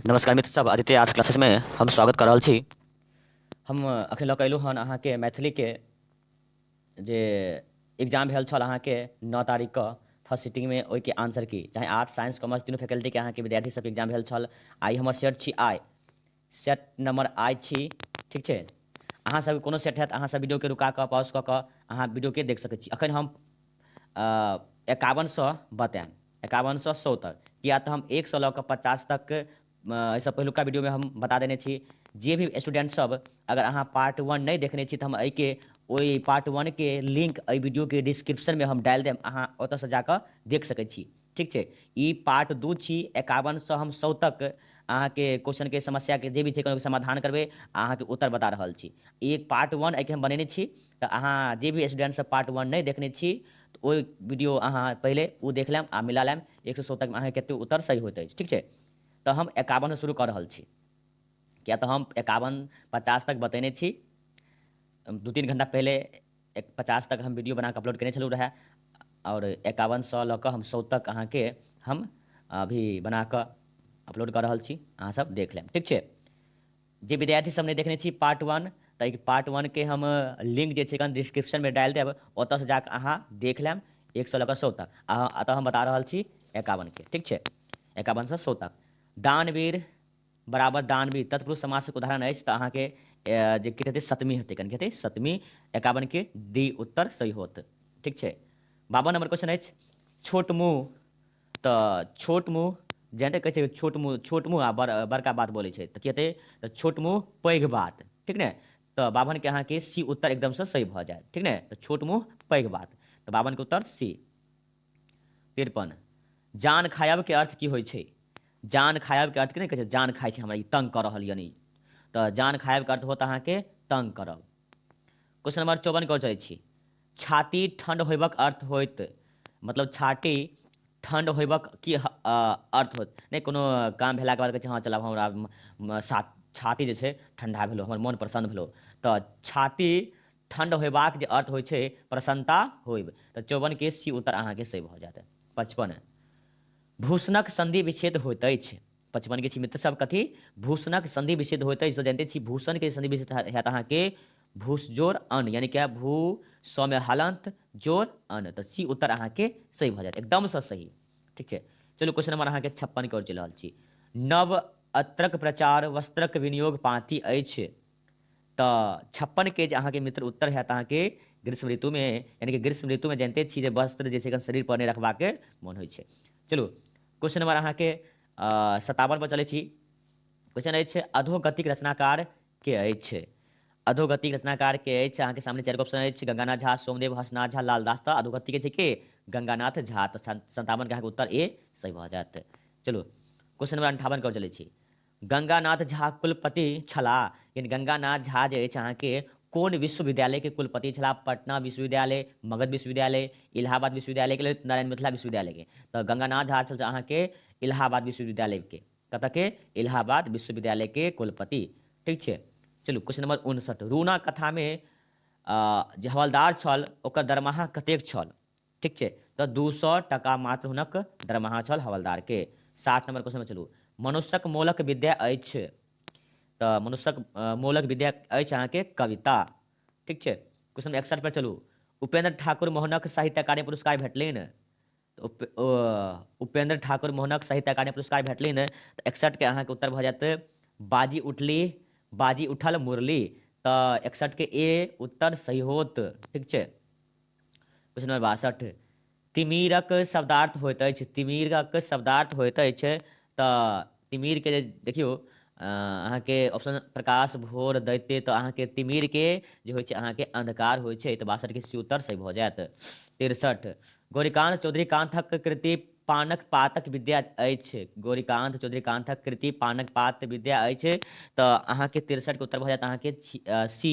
नमस्कार मित्र सब आदित्य आर्ट्स क्लासेस में हम स्वागत कर रहल छी हम अखन लऽ कऽ अयलहुँ हन अहाँके मैथिलीके जे एग्जाम भेल छल अहाँके नओ तारीखके फर्स्ट सिटिंगमे ओहिके आंसर की चाहे आर्ट्स साइंस कॉमर्स तीनू फैकल्टीके अहाँके विद्यार्थी सबके एग्जाम भेल छल आइ हमर शेयर छी आइ सेट नम्बर आइ छी ठीक छै अहाँ सब कोनो सेट हैत अहाँ सब वीडियोके रुका कऽ पॉज कऽ कऽ अहाँ वीडियोके देख सकै छी अखन हम एकावन सए बतायब एकावन सए सौ तक किया तऽ हम एक सए लऽ कऽ पचास तक एहिसँ पहिलुका वीडियोमे हम बता देने छी जे भी स्टूडेंट सब अगर अहाँ पार्ट वन नहि देखने छी तऽ हम एहिके ओहि पार्ट वनके लिंक एहि वीडियोके डिस्क्रिप्शनमे हम डालि देब अहाँ ओतऽसँ जाकऽ देख सकै छी ठीक छै ई पार्ट दू छी एकावनसँ हम सौ तक अहाँके क्वेश्चनके समस्याके जे भी छै कोनो समाधान करबै आ अहाँके उत्तर बता रहल छी ई पार्ट वन एहिके हम बनेने छी तऽ अहाँ जे भी स्टूडेंटसभ पार्ट वन नहि देखने छी तऽ ओहि वीडियो अहाँ पहिले ओ देख लेम आ मिला लेम एक सौ सौ तकमे अहाँके कतेक उत्तर सही होइत अछि ठीक छै तऽ हम एकावनसँ शुरू कऽ रहल छी किया तऽ हम एकावन पचास तक बतेने छी दू तीन घंटा पहिले एक पचास तक हम वीडियो बनाकऽ अपलोड केने छलहुँ रहए आओर एकावनसँ लऽ कऽ हम सौ तक अहाँके हम अभी बनाकऽ अपलोड कऽ रहल छी अहाँसभ देख लेब ठीक छै जे विद्यार्थीसभ नहि देखने छी पार्ट वन तऽ एहि पार्ट वनके हम लिंक जे छै एखन डिस्क्रिप्शनमे डालि देब ओतऽसँ जाकऽ अहाँ देख लेब एक सए लऽ कऽ सौ तक अहाँ एतऽ हम बता रहल छी एकावनके ठीक छै एकावनसँ सौ तक दानवीर बराबर दानवी तत्पुरुष समास के उदाहरण अछि तऽ अहाँ के जे कित हेतै सतमी हेतै कन हेतै सतमी एकावन के डी उत्तर सही होत ठीक छै बावन नंबर क्वेश्चन अछि छोट मुँह तऽ छोट मुँह जानते कहै छै छोट मुँह छोट मुँह आ बड़ बड़का बात बोलै छै तऽ की हेतै तऽ छोट मुँह पैघ बात ठीक ने तऽ बावन के अहाँ के सी उत्तर एकदम से सही भऽ जायत ठीक ने तऽ छोट मुँह पैघ बात तऽ बावन के उत्तर सी तिरपन जान खायब के अर्थ की होइ छै जान खायब के अर्थ की नहीं कहे जान खाए छै हमरा तंग कर रहल यानी तो जान खायब के अर्थ होत अहाँ के तंग करब क्वेश्चन नंबर चौवन के चले छी छाती ठंड होबक अर्थ होत मतलब छाती ठंड होबक की अर्थ होत नहीं कोनो काम भेला के बाद कहे हाँ चलब हमरा छाती जे ठंडा भेलो हमर मन प्रसन्न भेलो तो छाती ठंड होयबाक जे अर्थ होइ छै प्रसन्नता होइब तऽ चौवन के सी उत्तर अहाँके सही भऽ जायत पचपन भूषणक संधि विच्छेद होइत अछि पचपन के छी मित्र सब कथी भूषणक संधि विच्छेद होइत अछि तऽ जानते छी भूषण के संधि विच्छेद होयत अहाँके भूसजोर अन यानी कि भू स में हलंत जोर अन तऽ सी उत्तर अहाँके सही भऽ जायत एकदमसँ सही ठीक छै चलू क्वेश्चन नंबर अहाँके छप्पन के ओर चलि रहल छी नव अत्रक प्रचार वस्त्रक विनियोग पाँति अछि तऽ छप्पन के जे अहाँके मित्र उत्तर हैत अहाँके ग्रीष्म ऋतुमे यानि कि ग्रीष्म ऋतुमे जानिते छी जे वस्त्र जे छै एखन शरीर पर नहि रखबाक मोन होइ छै चलू क्वेश्चन नंबर अहाँके सतावन पर चलै छी क्वेश्चन अछि अधोगतिक रचनाकार के अछि अधोगतिक रचनाकार के अछि अहाँके सामने चारि ऑप्शन अछि गंगानाथ झा सोमदेव हसनाथ झा लालदास तऽ अधोगति के छै के गंगानाथ झा तऽ सन्तावन के अहाँके उत्तर ए सही भऽ जायत चलू क्वेश्चन नंबर अंठावन कर चलै छी गंगानाथ झा कुलपति छलाह यानी गंगानाथ झा जे अछि अहाँके कोन विश्वविद्यालयके कुलपति छलाह पटना विश्वविद्यालय मगध विश्वविद्यालय इलाहाबाद विश्वविद्यालयके ललित नारायण मिथिला विश्वविद्यालयके तऽ गंगानाथ झा छल अहाँके इलाहाबाद विश्वविद्यालयके कतऽके इलाहाबाद विश्वविद्यालयके कुलपति ठीक छै चलू क्वेश्चन नंबर उनसठ रूना कथामे जे हवलदार छल ओकर दरमाहा कतेक छल ठीक छै तऽ दू सौ टका मात्र हुनक दरमाहा छल हवलदार के साठ नंबर क्वेश्चन पर चलू मनुष्यक मोलक विद्या अछि तऽ मनुष्यक मोलक विद्या अछि अहाँके कविता ठीक छै क्वेश्चन एकसठ पर चलू उपेंद्र ठाकुर मोहनक साहित्य अकादमी पुरस्कार भेटलनि उप, उपेंद्र ठाकुर मोहनक साहित्य अकादमी पुरस्कार भेटली ने तऽ एकसठके अहाँके उत्तर भऽ जायत बाजी उठली बाजी उठल मुरली तऽ एकसठके ए उत्तर सही होत ठीक छै प्रश्न नंबर बासठ तिमिरक शब्दार्थ होइत अछि तिमिरक शब्दार्थ होइत अछि तऽ तिमिरके जे देखियौ अहाँके ऑप्शन प्रकाश भोर दैते तऽ अहाँके तिमिरके जे होइ छै अहाँके अन्धकार होइ छै तऽ बासठके सी उत्तर सही भऽ जायत तिरसठ गौरीकान्त चौधरी कान्थक कृति पानक पातक विद्या अछि गौरीकान्त चौधरी कान्थक कृति पानक पात विद्या अछि तऽ अहाँके तिरसठके उत्तर भऽ जायत अहाँके सी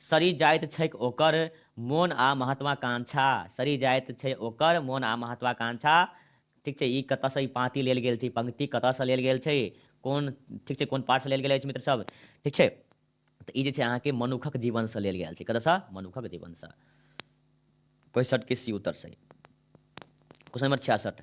सड़ि जाइत छैक ओकर मोन आ महत्वाकांक्षा। सड़ि जाइत छै ओकर मोन आ महत्वाकांक्षा। ठीक छै, ई कतऽ सँ ई पाँति लेल गेल छै, ई पंक्ति कतऽ सँ लेल गेल छै, कोन ठीक छै कोन पाठ सँ लेल गेल अछि मित्र सब, ठीक छै। तऽ ई जे छै अहाँके मनुखक जीवन सँ लेल गेल छै, कतऽ सँ मनुखक जीवन सँ। पैंसठ के सी उत्तर सही। क्वेश्चन नंबर छियासठ।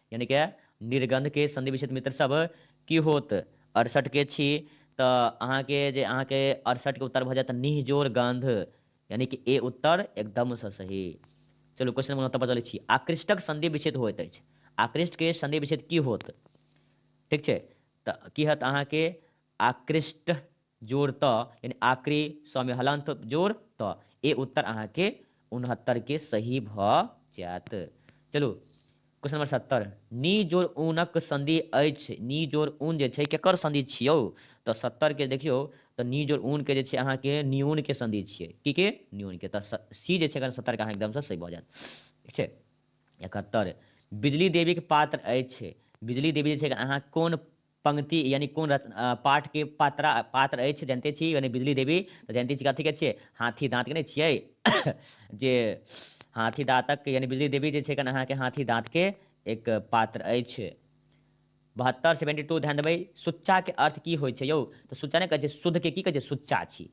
यानी के निर्गंध के संधि विच्छेद मित्र सब की होत अड़सठ के छी तो अहाँ के जे अहाँ के अड़सठ के उत्तर भ जात निहजोर गंध यानी कि ए उत्तर एकदम से सही चलू क्वेश्चन नंबर पर चलै छी आकृष्टक संधि विच्छेद होइत अछि आकृष्ट के संधि विच्छेद की होत ठीक छै तऽ की हत अहाँके आकृष्ट जोड़ त यानी आक्रे स में हलंत जोड़ त ए उत्तर अहाँ के उनहत्तर के सही भ जात चलू क्वेश्चन नंबर सत्तर नी जोड़ ऊनक संधि अछि नी जोड़ ऊन जे छै केकर संधि छियौ तऽ सत्तर के देखियौ तऽ नी जोड़ ऊन के जे छै अहाँ के न्यून के संधि छियै की के न्यून के तऽ सी जे छै अगर सत्तर के अहाँ एकदम से सही भऽ जायत ठीक छै इकहत्तर बिजली देवी के पात्र अछि बिजली देवी जे छै अहाँ कोन पंक्ति यानी कोन रच पाठ के पात्रा पात्र अछि जनिते छी यानी बिजली देवी तऽ जनिते छी कथीके छियै हाथी दाँतके नहि छियै जे हाथी दाँतक यानी बिजली देवी जे छै एखन अहाँके हाथी दाँतके एक पात्र अछि बहत्तर सेवेंटी टू ध्यान देबै सुच्चाके अर्थ की होइ छै यौ तऽ सुच्चा नहि कहै छै शुद्धके की कहै छै सुच्चा छी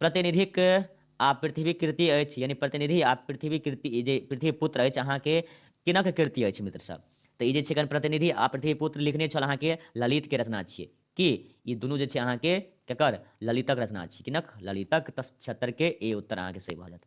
प्रतिनिधिक आ पृथ्वीक कृति अछि यानी प्रतिनिधि आ पृथ्वी कृति जे पृथ्वी पुत्र अछि अहाँके किनक कृति अछि मित्र सब तऽ ई जे छै एखन प्रतिनिधि आ पृथ्वी पुत्र लिखने छल अहाँके ललितके रचना छियै कि ई दुनू जे छै अहाँके केकर ललितक रचना छियै किनक ललितक तऽ छिहत्तरके ए उत्तर अहाँके सही भऽ जायत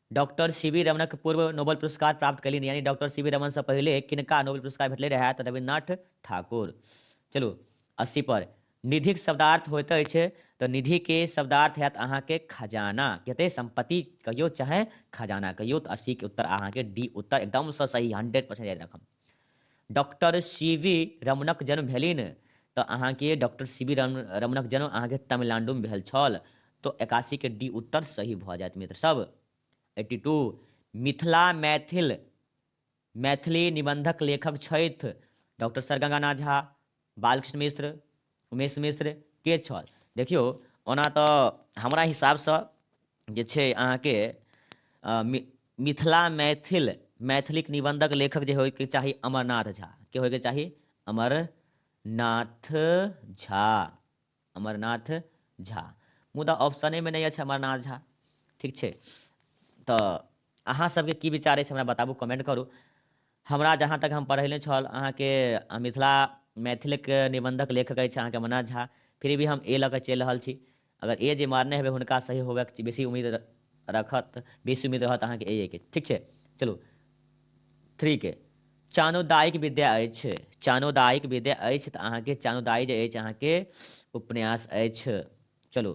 डॉक्टर सीवी रमणक पूर्व नोबेल पुरस्कार प्राप्त कयलनि यानी डॉक्टर सीवी रमणसँ पहिले किनका नोबेल पुरस्कार भेटलै रहए तऽ रविन्द्रनाथ ठाकुर चलू अस्सी पर निधिक शब्दार्थ होइत अछि तऽ निधिके शब्दार्थ हैत अहाँके खजाना कते सम्पत्ति कहियो चाहे खजाना कहियो तऽ अस्सीके उत्तर अहाँके डी उत्तर एकदमसँ सही हंड्रेड परसेंट याद राखब डॉक्टर सी वी रमणक जन्म भेलनि तऽ अहाँके डॉक्टर सी वी रमणक जन्म अहाँके तमिलनाडुमे भेल छल तो एकासी के डी उत्तर सही भऽ जायत मित्र सब एट्टी टू मिथिला मैथिल मैथिली निबंधक लेखक छथि डॉक्टर सर गंगानाथ झा बालकृष्ण मिश्र उमेश मिश्र के छल देखियौ ओना तऽ हमरा हिसाबसँ जे छै अहाँके मिथिला मैथिल मैथिलीक निबन्धक लेखक जे होइके चाही अमरनाथ झा के होइके चाही अमरनाथ झा अमरनाथ झा मुदा ऑप्शनेमे नहि अछि अमरनाथ झा ठीक छै तऽ अहाँ सबके की विचार अछि हमरा बताबू कमेंट करू हमरा जहाँ तक हम पढ़ेने छल अहाँके मिथिला मैथिलके निबंधक लेखक अछि अहाँके अमरनाथ झा फिर भी हम ए लऽ कऽ चलि रहल छी अगर ए जे मारने हेबै हुनका सही होबैके बेसी उम्मीद रखत बेसी उम्मीद रहत अहाँके ए के ठीक छै चलू थ्री के चानोदायिक विद्या अछि चानोदायिक विद्या अछि तऽ अहाँके चानोदायी जे अछि अहाँके उपन्यास अछि चलू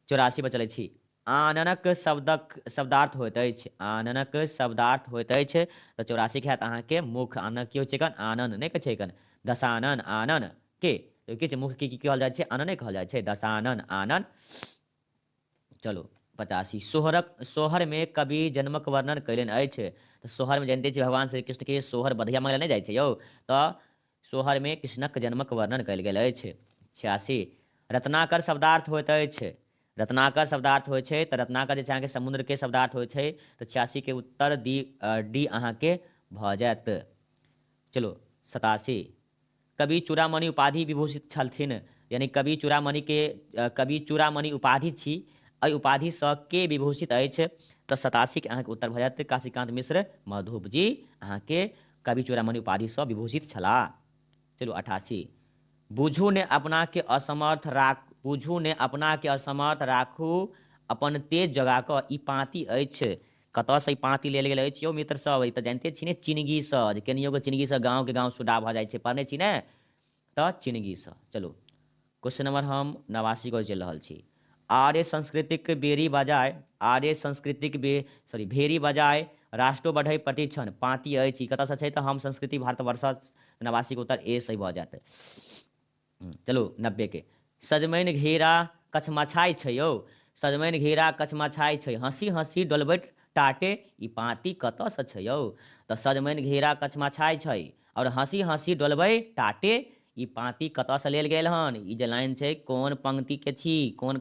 चौरासी पर चलै छी आननक शब्दक शब्दार्थ होइत अछि आननक शब्दार्थ होइत अछि तऽ चौरासी के हैत अहाँके मुख आननक की होइ छै कन आनन नहि कहै छै कन दशानन आनन के किछु मुख की की कहल जाइ छै आनने कहल जाइ छै दशानन आनन चलू पचासी सोहरक सोहरमे कवि जन्मक वर्णन कयलनि अछि तऽ सोहरमे जानिते छी भगवान श्री कृष्णके सोहर बधिया मांगल नहि जाइ छै यौ तऽ सोहरमे कृष्णक जन्मक वर्णन कयल गेल अछि छियासी रत्नाकर शब्दार्थ होइत अछि रत्नाकर शब्दार्थ होइ छै तऽ रत्नाकर जे छै अहाँके समुद्रके शब्दार्थ होइ छै तऽ छियासीके उत्तर डी डी अहाँके भऽ जायत चलू सतासी कवि चूड़ामणि उपाधि विभूषित छलथिन। यानि कवि चूड़ामणि के कवि चूड़ामणि उपाधि छी। अइ उपाधि सँ के विभूषित अछि? त सतासी के अहाँ के उत्तर भ जायत काशीकान्त मिश्र मधुप जी अहाँ के कवि चूड़ामणि उपाधि सँ विभूषित छलाह। चलू अठासी। बुझू ने अपना के असमर्थ राख बुझू ने अपना के असमर्थ राखू अपन तेज जगा क। ई पाँति अछि। कतऽ सँ ई पाँति लेल गेल अछि यौ मित्र सब ई तऽ जानिते छी ने चिनगी सँ जे केनियो के चिनगी सँ गाँव के गाँव सुडा भऽ जाइ छै पढ़ने छी ने तऽ चिनगी सँ चलू क्वेश्चन नंबर हम नवासी को चलि रहल छी आर्य संस्कृतिक बेरी बजाय आर्य संस्कृतिक बे सॉरी भेरी बजाय राष्ट्रो बढ़ै प्रतिक्षण पाँति अछि कतऽसँ छै तऽ हम संस्कृति भारतवर्ष नवासीके उत्तर ए सही भऽ जायत चलू नब्बे के सजमनि घेरा कछमाछाइ छै यौ सजमनि घेरा कछमाछाइ छै हँसि हँसि डोलबैत टाटे ई पाँति कतऽ सँ छै यौ तऽ सजमनि घेरा कछमाछाइ छै आओर हँसि हँसि डोलबै टाटे ई पाँति कतऽ सँ लेल गेल हन ई जे लाइन छै कोन पंक्ति के छी कोन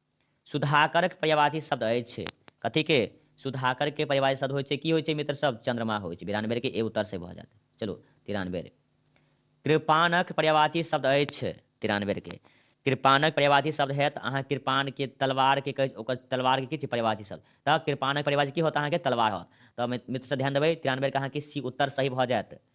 सुधाकरक पर्यायवाची शब्द अछि कथीक? सुधाकरक पर्यायवाची शब्द होइत छै की होइत छै मित्रसभ? चन्द्रमा होइत छै। बिरानबेर के ए उत्तर सही भऽ जायत। चलू तिरानबेर। कृपाणक पर्यायवाची शब्द अछि तिरानबेर के। कृपाणक पर्यायवाची शब्द हएत अहाँक कृपाण के तलवार के कहै ओकर तलवार के की छै पर्यायवाची शब्द। तऽ कृपाणक पर्यायवाची की होत अहाँके तलवार होत। तऽ मित्रसभ ध्यान देबै तिरानबेर के अहाँके सी उत्तर सही भऽ जायत।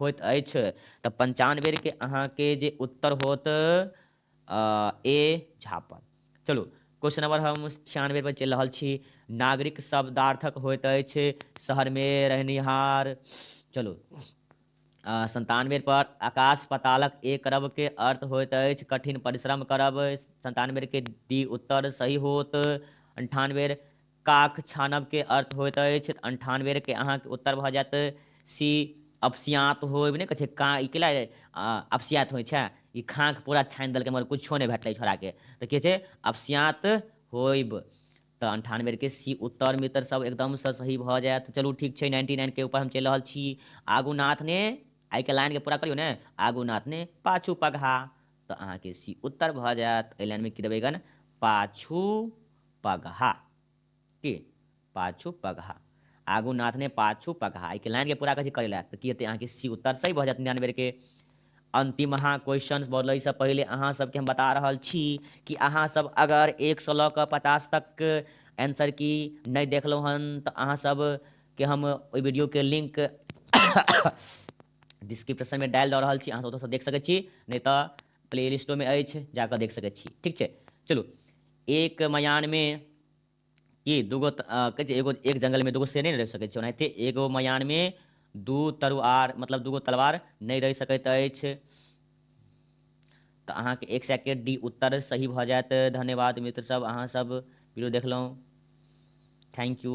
होइत अछि तऽ पंचान बेर के अहाँके जे उत्तर होत ए झापड़ चलू क्वेश्चन नंबर हम छियानवे पर चलि रहल छी नागरिक शब्दार्थक होइत अछि शहरमे रहनिहार चलू संतानवे पर आकाश पतालक ए करब के अर्थ होइत अछि कठिन परिश्रम करब संतानवे के डी उत्तर सही होत अंठानवे काक छानब के अर्थ होइत अछि अंठान बेर के अहाँ के उत्तर भऽ जायत सी अपसियात होइब नहि कहै छै का ई कैला अपसियात होइ छै ई खाँक पूरा छानि देलकै मगर किछो नहि भेटलै छोड़ा के तऽ की छै अपसियात होइब तऽ अंठान बेर के सी उत्तर मित्र सब एकदम से सही भऽ जायत चलू ठीक छै नाइन्टी नाइन के ऊपर हम चलि रहल छी आगू नाथ ने आइ के लाइन के पूरा करियौ ने आगू नाथ ने पाछू पगहा तऽ अहाँके सी उत्तर भऽ जायत एहि लाइनमे की देबै गन पाछू पगहा की पाछू पगहा आगू नाथ ने पाछू पगहा एहिके लाइनके पूरा करै छी करै लए तऽ की हेतै अहाँके सी उत्तर सही भऽ जायत निन्यानवे बेरके अंतिम अहाँ क्वेश्चन बोलैसँ पहिले अहाँ सबके हम बता रहल छी कि अहाँ सब अगर एक सौ लऽ कऽ पचास तक आंसर की नहि देखलहुँ हन तऽ अहाँ सबके हम ओहि वीडियोके लिंक डिस्क्रिप्शनमे डालि दऽ रहल छी अहाँ ओतऽसँ देख सकै छी नहि तऽ प्ले लिस्टोमे अछि जाकऽ देख सकै छी ठीक छै चलू एक मयानमे कि दूगो कहै छै एगो एक जङ्गलमे दूगो शेर नहि रहि सकै छै ओनाहिते एगो मयानमे दू तरुआर मतलब दूगो तलवार नहि रहि सकैत अछि तऽ अहाँके एक सेकेंड डी उत्तर सही भऽ जायत धन्यवाद मित्रसभ अहाँसभ वीडियो देखलहुँ थैंक यू